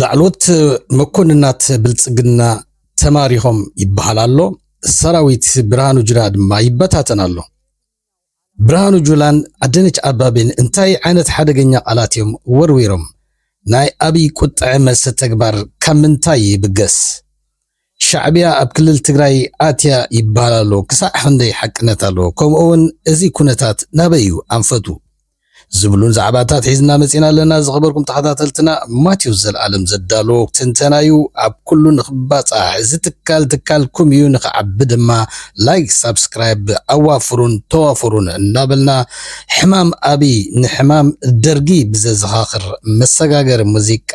ላዕሎት መኮንናት ብልፅግና ተማሪኾም ይበሃል ኣሎ። ሰራዊት ብርሃኑ ጁላ ድማ ይበታተን ኣሎ። ብርሃኑ ጁላን ኣደነች ኣባቤን እንታይ ዓይነት ሓደገኛ ቃላት እዮም ወርዊሮም? ናይ ኣብይ ቁጠዐ መልሰ ተግባር ካብ ምንታይ ይብገስ? ሻዕቢያ ኣብ ክልል ትግራይ ኣትያ ይበሃል ኣሎ ክሳዕ ኽንደይ ሓቅነት ኣለዎ ከምኡ ውን እዚ ኩነታት ናበይ እዩ ኣንፈቱ ዝብሉን ዛዕባታት ሒዝና መፂና ኣለና ዝኸበርኩም ተኸታተልትና ማቴዎስ ዘልኣለም ዘዳለዎ ትንተና እዩ ኣብ ኩሉ ንኽባፃሕ እዚ ትካል ትካልኩም እዩ ንኽዓቢ ድማ ላይክ ሳብስክራይብ ኣዋፍሩን ተዋፍሩን እናበልና ሕማም ኣብይ ንሕማም ደርጊ ብዘዘኻኽር መሰጋገሪ ሙዚቃ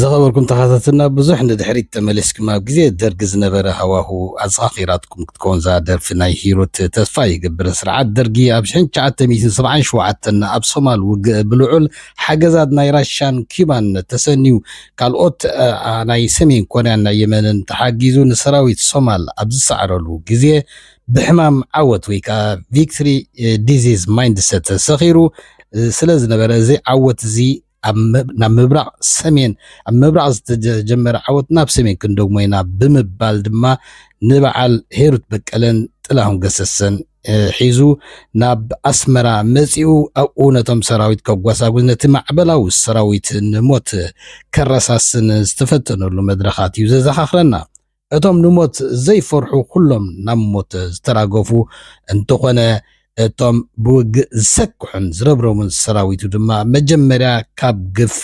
ዝኸበርኩም ተኸታተልና ብዙሕ ንድሕሪት ተመሊስኩም ኣብ ግዜ ደርጊ ዝነበረ ሃዋሁ ኣዘኻኺራትኩም ክትከውን እዛ ደርፊ ናይ ሂሩት ተስፋ ይገብር ስርዓት ደርጊ ኣብ 1977 ኣብ ሶማል ውግእ ብልዑል ሓገዛት ናይ ራሻን ኪባን ተሰንዩ ካልኦት ናይ ሰሜን ኮርያን ናይ የመንን ተሓጊዙ ንሰራዊት ሶማል ኣብ ዝሰዕረሉ ግዜ ብሕማም ዓወት ወይ ከዓ ቪክትሪ ዲዚዝ ማይንድሰት ተሰኺሩ ስለ ዝነበረ እዚ ዓወት እዚ ናብ ምብራቕ ሰሜን ኣብ ምብራቕ ዝተጀመረ ዓወት ናብ ሰሜን ክንደግሞ ኢና ብምባል ድማ ንበዓል ሄሩት በቀለን ጥላሁን ገሰሰን ሒዙ ናብ ኣስመራ መፂኡ ኣብኡ ነቶም ሰራዊት ከጓሳጉዝ ነቲ ማዕበላዊ ሰራዊት ንሞት ከረሳስን ዝተፈተነሉ መድረኻት እዩ ዘዘኻኽረና እቶም ንሞት ዘይፈርሑ ኩሎም ናብ ሞት ዝተራገፉ እንተኾነ እቶም ብውግእ ዝሰክሑን ዝረብረቡን ሰራዊቱ ድማ መጀመርያ ካብ ግፋ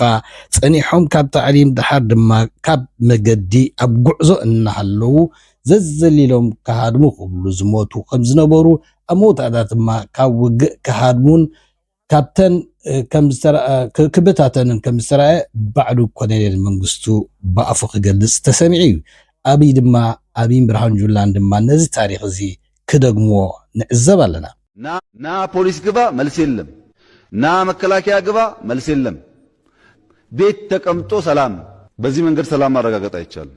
ጸኒሖም ካብ ታዕሊም ደሓር ድማ ካብ መገዲ ኣብ ጉዕዞ እናሃለዉ ዘዘሊሎም ክሃድሙ ክብሉ ዝሞቱ ከምዝነበሩ ኣብ መውዳእታ ድማ ካብ ውግእ ክሃድሙን ካብተን ክብታተንን ከም ዝተራእየ ባዕሉ ኮሎኔል መንግስቱ ብኣፉ ክገልጽ ተሰሚዑ እዩ። ኣብይ ድማ ኣብይን ብርሃኑ ጁላን ድማ ነዚ ታሪኽ እዚ ክደግምዎ ንዕዘብ ኣለና። ና ፖሊስ ግባ መልሲ የለም ና መከላከያ ግባ መልሲ የለም ቤት ተቀምጦ ሰላም በዚ መንገድ ሰላም ማረጋገጥ ኣይቻልም።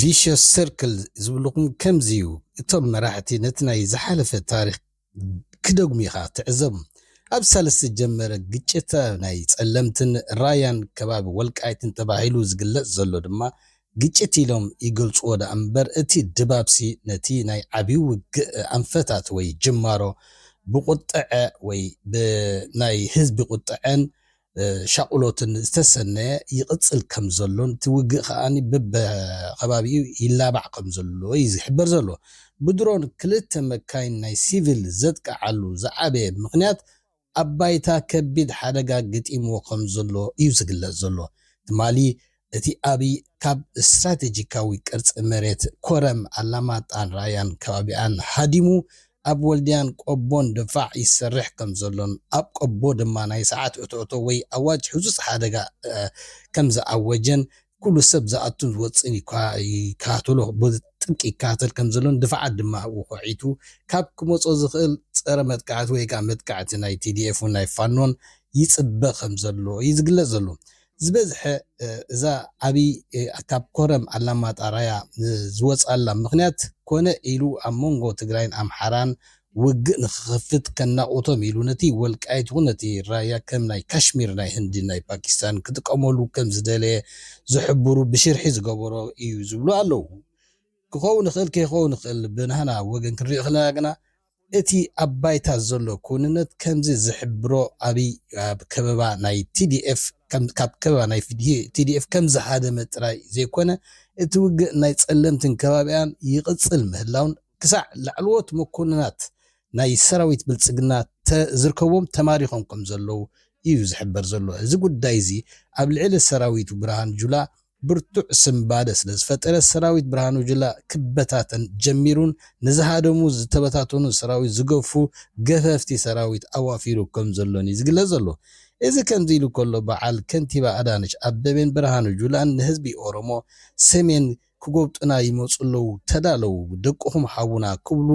ቪሸስ ሰርክል ዝብልኩም ከምዚ እዩ እቶም መራሕቲ ነቲ ናይ ዝሓለፈ ታሪኽ ክደግሙ ኢኻ ትዕዘቦም ኣብ ሳልስ ዝጀመረ ግጭት ናይ ጸለምትን ራያን ከባቢ ወልቃይትን ተባሂሉ ዝግለጽ ዘሎ ድማ ግጭት ኢሎም ይገልጽዎ ደኣ እምበር እቲ ድባብሲ ነቲ ናይ ዓቢ ውግእ ኣንፈታት ወይ ጅማሮ ብቁጥዐ ወይ ብናይ ህዝቢ ቁጥዐን ሻቕሎትን ዝተሰነየ ይቕጽል ከም ዘሎን እቲ ውግእ ከኣ በብከባቢኡ ይላባዕ ከም ዘሎ እዩ ዝሕበር ዘሎ። ብድሮን ክልተ መካይን ናይ ሲቪል ዘጥቅዓሉ ዝዓበየ ምኽንያት ኣብ ባይታ ከቢድ ሓደጋ ገጢምዎ ከም ዘሎ እዩ ዝግለጽ ዘሎ። ትማሊ እቲ ኣብይ ካብ ስትራቴጂካዊ ቅርፂ መሬት ኮረም፣ ኣላማጣን ራያን ከባቢኣን ሃዲሙ ኣብ ወልድያን ቆቦን ድፋዕ ይሰርሕ ከምዘሎን ኣብ ቆቦ ድማ ናይ ሰዓት እቶእቶ ወይ ኣዋጅ ህፁፅ ሓደጋ ከምዝኣወጀን ኩሉ ሰብ ዝኣቱን ዝወፅእን ይከታተሎ ብጥብቂ ይከታተል ከምዘሎን ድፋዓት ድማ ወኾዒቱ ካብ ክመፆ ዝኽእል ፀረ መጥቃዕቲ ወይ ከዓ መጥቃዕቲ ናይ TDF ን ናይ ፋኖን ይፅበ ከምዘሎ እዩ ዝግለፅ ዘሎ። ዝበዝሐ እዛ ዓብይ ኣካብ ኮረም ኣላማጣ ራያ ዝወፅኣላ ምኽንያት ኮነ ኢሉ ኣብ መንጎ ትግራይን ኣምሓራን ውግእ ንኽኸፍት ከናቑቶም ኢሉ ነቲ ወልቃይት ይኹን ነቲ ራያ ከም ናይ ካሽሚር ናይ ህንዲን ናይ ፓኪስታንን ክጥቀመሉ ከም ዝደለየ ዝሕብሩ ብሽርሒ ዝገበሮ እዩ ዝብሉ ኣለዉ። ክኸውን ይኽእል ከይኸውን ይኽእል ብናህና ወገን ክንሪኦ ከለና ግና እቲ ኣብ ባይታ ዘሎ ክውንነት ከምዚ ዝሕብሮ ኣብይ ኣብ ከበባ ናይ tdf ካብ ከበባ ናይ tdf ከምዝሃደመ ጥራይ ዘይኮነ እቲ ውግእ ናይ ፀለምትን ከባቢኣን ይቕፅል ምህላውን ክሳዕ ላዕለዎት መኮንናት ናይ ሰራዊት ብልፅግና ዝርከብዎም ተማሪኾም ከምዘለዉ እዩ ዝሕበር ዘሎ። እዚ ጉዳይ እዚ ኣብ ልዕሊ ሰራዊቱ ብርሃኑ ጁላ ብርቱዕ ስንባደ ስለ ዝፈጠረ ሰራዊት ብርሃኑ ጁላ ክበታተን ጀሚሩን ንዝሃደሙ ዝተበታተኑ ሰራዊት ዝገፉ ገፈፍቲ ሰራዊት ኣዋፊሩ ከም ዘሎን እዩ ዝግለጽ ዘሎ። እዚ ከምዚ ኢሉ ከሎ በዓል ከንቲባ ኣዳነች ኣበቤን ብርሃኑ ጁላን ንህዝቢ ኦሮሞ ሰሜን ክጎብጡና ይመጹ ኣለዉ ተዳለዉ ደቅኹም ሃቡና ክብሉ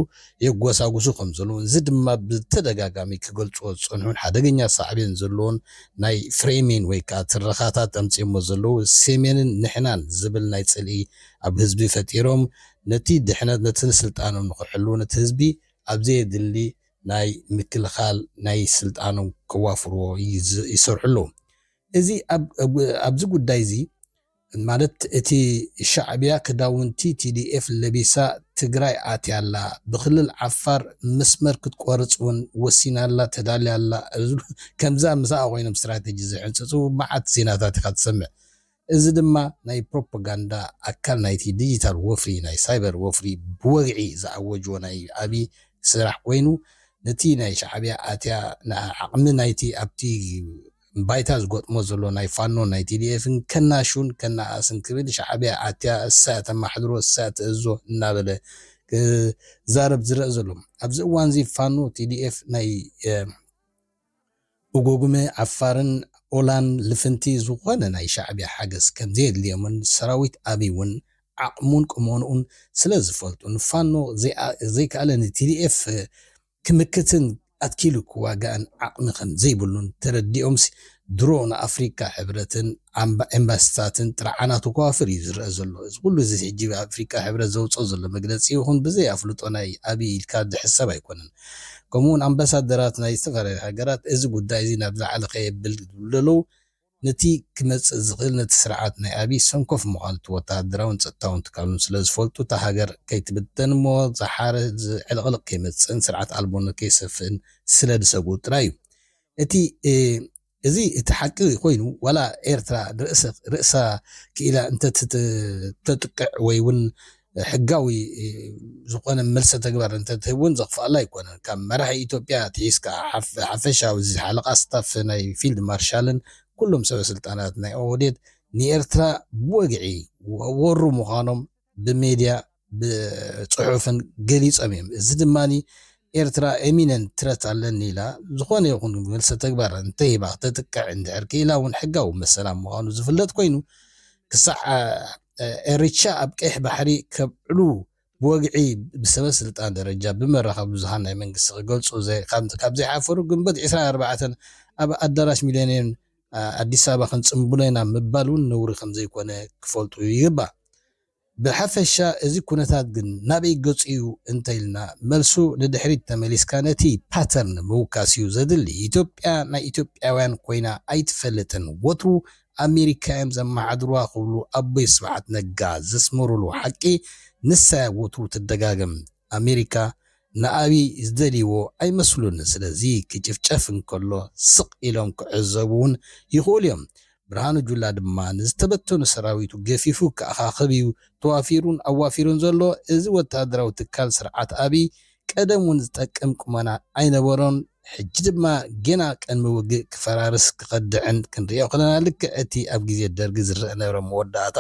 የጎሳጉሱ ከም ዘለዉን እዚ ድማ ብተደጋጋሚ ክገልጽዎ ዝጸንሑን ሓደገኛ ሳዕቤን ዘለዎን ናይ ፍሬሚን ወይ ከኣ ትረኻታት ኣምጺኦሞ ዘለዉ ሴሜንን ንሕናን ዝብል ናይ ጽልኢ ኣብ ህዝቢ ፈጢሮም ነቲ ድሕነት ነቲ ንስልጣኖም ንኽሕልዉ ነቲ ህዝቢ ኣብ ዘየድሊ ናይ ምክልኻል ናይ ስልጣኖም ከዋፍርዎ ይሰርሑ ኣለዉ እዚ ኣብዚ ጉዳይ እዚ ማለት እቲ ሻዕቢያ ክዳውንቲ tdf ለቢሳ ትግራይ ኣትያ ኣላ ብክልል ዓፋር መስመር ክትቆርፅ ውን ወሲና ኣላ ተዳልያ ኣላ ዝብሉ ከምዛ ምሳኣ ኮይኖም ስትራተጂ ዝሕንፅፁ መዓት ዜናታት ኢኻ ትሰምዕ እዚ ድማ ናይ ፕሮፖጋንዳ ኣካል ናይቲ ዲጂታል ወፍሪ ናይ ሳይበር ወፍሪ ብወግዒ ዝኣወጅዎ ናይ ኣብይ ስራሕ ኮይኑ ነቲ ናይ ሻዕቢያ ኣትያ ዓቕሚ ናይቲ ኣብቲ ባይታ ዝገጥሞ ዘሎ ናይ ፋኖን ናይ ቲዲኤፍን ከናሹን ከነኣእስን ክብል ሻዕቢያ ኣትያ እሳ ተማሕድሮ እሳ ትእዝዞ እናበለ ክዛረብ ዝረእ ዘሎ ኣብዚ እዋንዚ ፋኖ ቲዲኤፍ ናይ ኡጎጉመ ዓፋርን ኦላን ልፍንቲ ዝኾነ ናይ ሻዕቢያ ሓገዝ ከምዘየድልዮምን ሰራዊት ኣብይ ውን ዓቕሙን ቁመንኡን ስለዝፈልጡን ፋኖ ዘይከኣለ ንቲዲኤፍ ክምክትን ኣትኪሉ ክዋጋእን ዓቕሚ ከም ዘይብሉን ተረዲኦምሲ ድሮ ንኣፍሪቃ ሕብረትን ኤምባሲታትን ጥርዓናቱ ከዋፍር እዩ ዝረኣ ዘሎ። እዚ ኩሉ እዚ ሕጂ ኣፍሪቃ ሕብረት ዘውጽኦ ዘሎ መግለጺ ይኹን ብዘይ ኣፍልጦ ናይ ኣቢይ ኢልካ ዝሕሰብ ኣይኮነን። ከምኡ'ውን ኣምባሳደራት ናይ ዝተፈላለዩ ሃገራት እዚ ጉዳይ እዚ ናብ ዝለዓለ ከየብል ዝብሉ ዘለዉ ነቲ ክመጽእ ዝኽእል ነቲ ስርዓት ናይ ኣብይ ሰንኮፍ ምዃኑ እቲ ወተሃደራውን ጸጥታውን ትካሉን ስለ ዝፈልጡ እታ ሃገር ከይትብተን እሞ ዝሓረ ዕልቕልቕ ከይመጽእን ስርዓት ኣልቦነት ከይሰፍእን ስለ ዝሰግኡ ጥራይ እዩ እቲ እዚ እቲ ሓቂ ኮይኑ ዋላ ኤርትራ ርእሳ ክኢላ እንተትጥቅዕ ወይ ውን ሕጋዊ ዝኾነ መልሰ ተግባር እንተትህብ እውን ዘኽፍኣላ ኣይኮነን። ካብ መራሒ ኢትዮጵያ ኣትሒዝካ ሓፈሻዊ ሓለቓ ስታፍ ናይ ፊልድ ማርሻልን ኩሎም ሰበ ስልጣናት ናይ ኦህዴድ ንኤርትራ ብወግዒ ወሩ ምዃኖም ብሜድያ ብጽሑፍን ገሊጾም እዮም። እዚ ድማ ኤርትራ ኤሚነንት ትረት ኣለኒ ኢላ ዝኾነ ይኹን መልሰ ተግባር እንተሂባ ክተጥቅዕ እንድሕር ክኢላ እውን ሕጋዊ መሰላ ምዃኑ ዝፍለጥ ኮይኑ ክሳዕ ኤሪትሻ ኣብ ቀይሕ ባሕሪ ከብዕሉ ብወግዒ ብሰበ ስልጣን ደረጃ ብመራኸቢ ብዙሃን ናይ መንግስቲ ክገልጹ ካብ ዘይሓፈሩ ግንቦት ዕስራን ኣርባዕተን ኣብ ኣዳራሽ ሚለንየም ኣዲስ ኣበባ ክንጽንብሎ ኢና ምባል ውን ነውሪ ከምዘይኮነ ክፈልጡ ይግባእ። ብሓፈሻ እዚ ኩነታት ግን ናበይ ገጹ ዩ እንተኢልና መልሱ ንድሕሪት ተመሊስካ ነቲ ፓተርን ምውካስ ዩ ዘድሊ። ኢትዮጵያ ናይ ኢትዮጵያውያን ኮይና ኣይትፈልጥን ወትሩ ኣሜሪካ እዮም ዘመሓድሩዋ ክብሉ ኣቦይ ስብሓት ነጋ ዘስመሩሉ ሓቂ ንሳ እያ ወትሩ ትደጋገም። ኣሜሪካ ንኣብይ ዝደልይዎ ኣይመስሉን ስለዚ ክጭፍጨፍ እንከሎ ስቅ ኢሎም ክዕዘቡ ውን ይኽእሉ እዮም። ብርሃኑ ጁላ ድማ ንዝተበተኑ ሰራዊቱ ገፊፉ ክኣኻኽብ እዩ ተዋፊሩን ኣዋፊሩን ዘሎ። እዚ ወተሃደራዊ ትካል ስርዓት ኣብይ ቀደም ውን ዝጠቅም ቁመና ኣይነበሮን ሕጂ ድማ ጌና ቅድሚ ውግእ ክፈራርስ ክከድዕን ክንርእዮ ከለና ልክዕ እቲ ኣብ ግዜ ደርጊ ዝረኣ ዝነበረ መወዳእታ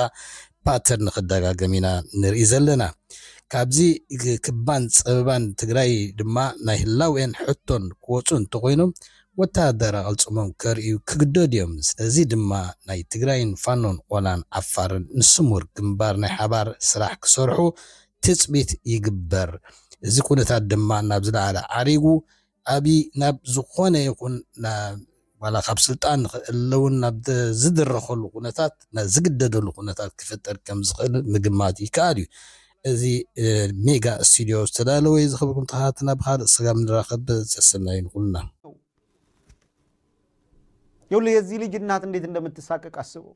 ፓተርን ክደጋገም ኢና ንርኢ ዘለና ካብዚ ክባን ጸበባን ትግራይ ድማ ናይ ህላዌን ሕቶን ክወጹ እንተኮይኖም ወተሃደር ኣቀልጽሞም ከርእዩ ክግደዱ እዮም ስለዚ ድማ ናይ ትግራይን ፋኖን ኦላን ዓፋርን ንስሙር ግንባር ናይ ሓባር ስራሕ ክሰርሑ ትፅቢት ይግበር። እዚ ኩነታት ድማ ናብ ዝለዓለ ዓሪጉ ኣብይ ናብ ዝኾነ ይኹን ዋላ ካብ ስልጣን ንክእለ እውን ናብ ዝድረኸሉ ኩነታት ናብ ዝግደደሉ ኩነታት ክፍጠር ከም ዝኽእል ምግማት ይከኣል እዩ። እዚ ሜጋ ስቱድዮ ዝተዳለወ እዩ። ዝኸበርኩም ተኸታተልና ብኻልእ ስጋብ ንራኸብ ሰሰናዩ ንኹልና። ይኸውልህ የዚህ ልጅ እናት እንዴት እንደምትሳቀቅ አስበው።